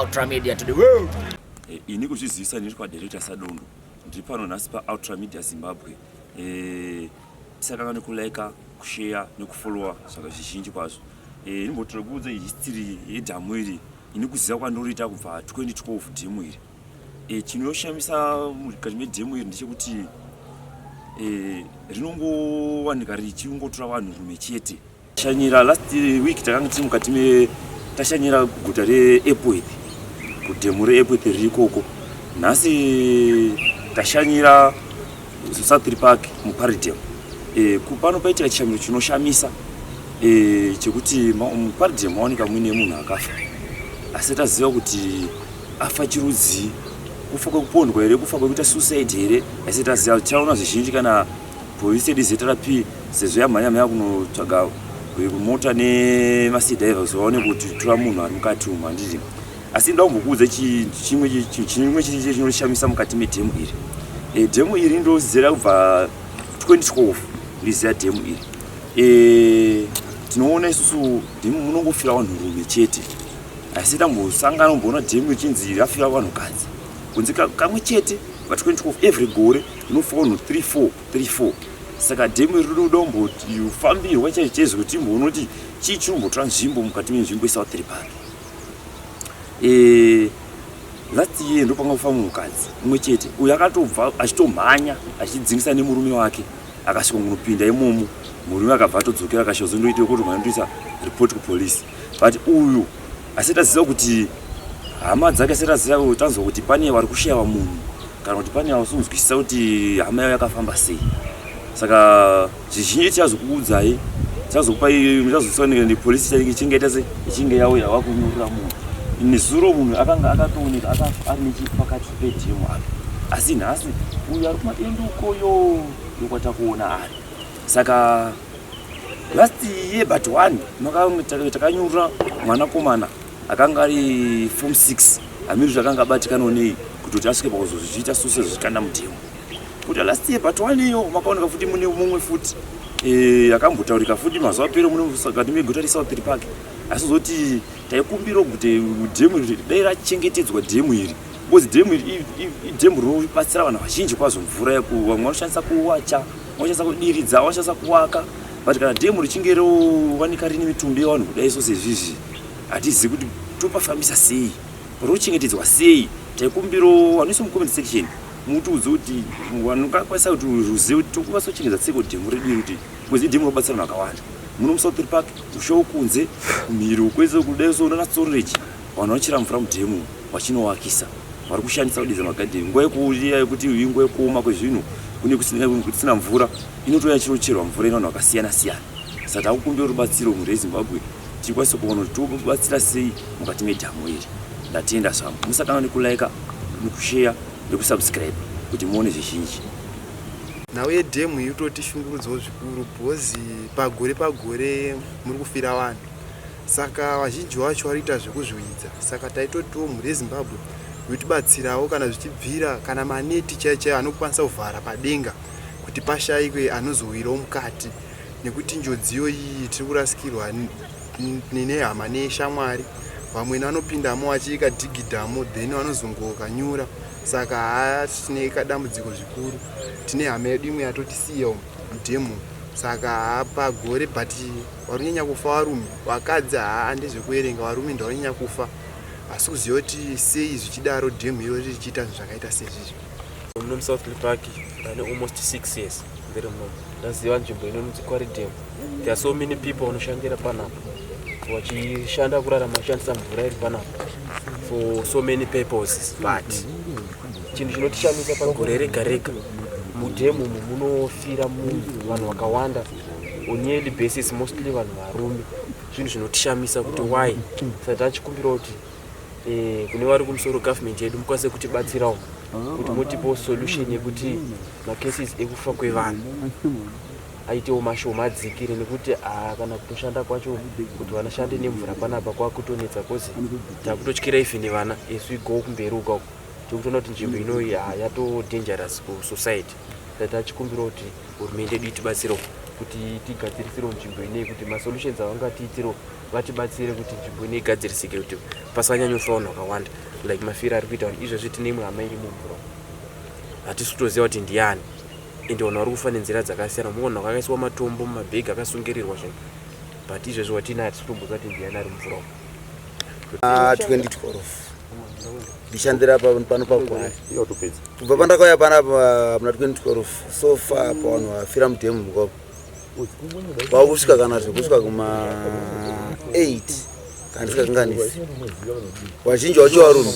Ultra Media to the world. Eh, ini kuzvizivisa ndiri kwadirector Sadundu ndiri pano nhasi paultra media zimbabwe eh, tisakanga nekulaika kusheya nekufollowa zvaka zvizhinji kwazvo eh, inombotira kuudza history yedhamu iri ini kuziva kwandoriita kubva 2012 dhemu iri eh, chinoshamisa mukati medhemu iri ndechekuti eh, rinongowanika richingotora vanhu rume chete Shanyira last week takanga tiri mukati me tashanyira guta reEpworth kudhemu reEpworth riri ikoko. Nhasi tashanyira Southry Park muParidem. E, pano paitika chishamiro chinoshamisa e, chekuti muParidem maoneka muine munhu akafa asi taziva kuti afa chirudzii kufa kwekupondwa here kufa kwekuita suicide here asi taziva tichaona zvizhinji kana Police yedu ZRP sezvo yamhanya mhanya kunotsvaga mota nemasidhaiva kuti vaone kuti tora munhu ari mukati umu handiti asi nda kumbokuudza chimwe chimwe chiri chiri chinoshamisa mukati medhemu iri e, dhemu iri ndozera kubva 2012 ndiziva dhemu iri e, tinoona isusu dhemu munongofira vanhu rume chete asi tambosangana kumboona dhemu ichinzi rafira vanhu kadzi kunzi kamwe chete pa 2012 every gore Mufono 3434 saka demo iri rinoda kumbofambirwa chaicho chaizo kuti imboona kuti chii chiri kumbotora nzvimbo mukati menzvimbo yesouth reparo eh, last year ndopanga kufamba mukadzi umwe chete uyo akatobva achitomhanya achidzingisa nemurume wake akasvika kunopinda imomo murume akabva atodzokera akasvika zondoita kuti mwandoisa report kupolice but uyu asati aziva kuti hama dzake asati aziva tanzwa kuti pane vari kushaya munhu kana kuti pane yausi kunzwisisa kuti hama yayo yakafamba sei saka zvizhinji tichazokuudzai tichazokupai muchazosoneka nepolisi chainge ichingaita se ichinge yauya wakunyurira munhu nezuro munhu akanga akatooneka akafa ari nechepakati pedhemu apo asi nhasi uyo ari kumadendo ukoyo yokwatakuona ari saka last year but one takanyurira mwanakomana akanga ari form 6 amiri zvakanga abatikano nei kutoti asvike pakuzozviita suse zvichikanda mutemo kuti last year but one iyo makaoneka futi mune mumwe futi eh, akambotaurika futi mazuva pere munekati meguta resaupiri pake asi zoti taikumbira kuti dhemu iri dai rachengetedzwa dhemu iri because dhemu iri idhemu rinobatsira vanhu vazhinji kwazvo mvura yekuva vamwe vanoshandisa kuwacha vanoshandisa kudiridza vanoshandisa kuwaka but kana dhemu richinge rovanika rine mitumbi yevanhu kudai so sezvizvi hatizivi kuti topafambisa sei rochengetedzwa sei taikumbiro vanoisa mucomment section mutiudze kuti vanokwanisa kuti ruzive kuti tokwanisa kuchengetedza tseko dhemu redu iri kuti kwezi dhemu robatsira vanhu vakawanda muno musouthir park ushawo kunze mhiri ukwese kudai so unana storage vanhu vachira mvura mudhemu vachinowakisa vari kushandisa kudidza magadheni nguva yekuuya yekuti inguva yekuoma kwezvinhu kune kusina mvura inotouya chinocherwa mvura ino vanhu vakasiyana siyana saka takukumbira rubatsiro mhuri yezimbabwe tikwanise kuona kuti tobatsira sei mukati medhamu iri ndatenda zvangu musatanga nekulaika nekusheya nekusubscribe kuti muone zvizhinji nhau yedhemu iyi utoti shungurudzawo zvikuru bhozi pagore pagore muri kufira vanhu saka vazhinji vacho varikuita zvekuzviwidza saka taitotiwo mhuri yezimbabwe yotibatsirawo kana zvichibvira kana maneti chaichaiyo anokwanisa kuvhara padenga kuti pashayikwe anozowirawo mukati nekuti njodziyo iyi tiri kurasikirwa nehama neshamwari vamwe vanopindamo vachiika dhigidhamo then vanozongokanyura saka haatine kadambudziko zvikuru tine hama yedu imwe yatotisiya mudemo saka pagore but varikunyanya kufa varume vakadzi haa ndezvekuverenga varume ndavanyanya kufa asi kuziva kuti sei zvichidaro dhemu iro richiita zvinhu zvakaita sezvizvi muno musouth park ndane almost six years ndiri muno ndaziva nzvimbo inonzi quaridem there are so many people vanoshandira panapa vachishanda kurarama vachishandisa mvura iri panapa for so many purposes but chinhu chinotishamisa pagore rega rega mudhemu umu munofira munhu vanhu vakawanda on yearly basis mostly vanhu varume zvinhu zvinotishamisa kuti why sati achikumbira kuti Eh, kune vari kumusoro government yedu mukwanise kutibatsirawo kuti mutipewo solution yekuti macases ekufa kwevanhu aitewo mashoma adzikire nekuti ah, kana kutoshanda kwacho kuti vanashande nemvura panapa kwakutonetsa bcause takutotyira even vana as we go kumberi uka uko tikutoona kuti nzvimbo inoyi ah, yato dangerous kusociety sa tachikumbira kuti hurumende yedu itibatsirewo kuti tigadzirisiro nzvimbo inei kuti masolutions avangatiitiro vatibatsire kuti nzvimbo ine igadzirisike kuti pasanyanyofa vanhu vakawanda like mafiro ari kuita vanhu izvezvi tine imwe hama iri mumvura hatisi kutoziva kuti ndiani ende vanhu vari kufa nenzira dzakasiyana muona kwakaiswa matombo mumabhegi akasungirirwa zvinhu but izvezvi watina hatisi kutomboziva kuti ndiani ari mumvura 2012 ndishandira pano pagwaya kubva pandakauya panapa muna 2012 so far pavanhu vafira mudhemu mukoko kwakusvika kana zvekusvika kuma 8 kana tisingakanganisi vazhinji wacho varungu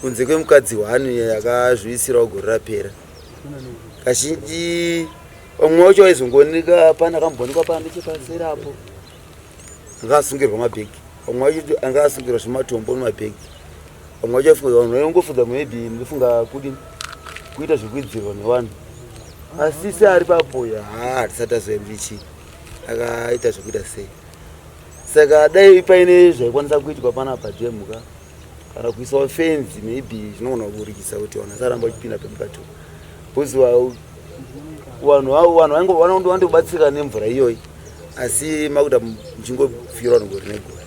kunze kwemukadzi hwani yakazviisirawo gore rapera kazhinji vamwe wacho vaizongooneka pana kamboonekwa pana nechepaseri apo anga asungirwa mabhegi vamwe vacho anga asungirwa zvematombo nemabhegi vamwe vacho afunga vanhu vaingofunga maybe ndofunga kudi kuita zvekuidzirwa nevanhu asi se ari papoya haa hatisati azoyambichi akaita zvekuita sei saka dai paine zvaikwanisa kuitwa panapa jemhuka kana kuisawo fenzi maybe zvinogona kuburikisa kuti vanhu vasaramba vachipinda pemukati bcause vanhu avo vanhu vainge vanondo vandobatsirika nemvura iyoyi asi makuda muchingofira vanhu gore negore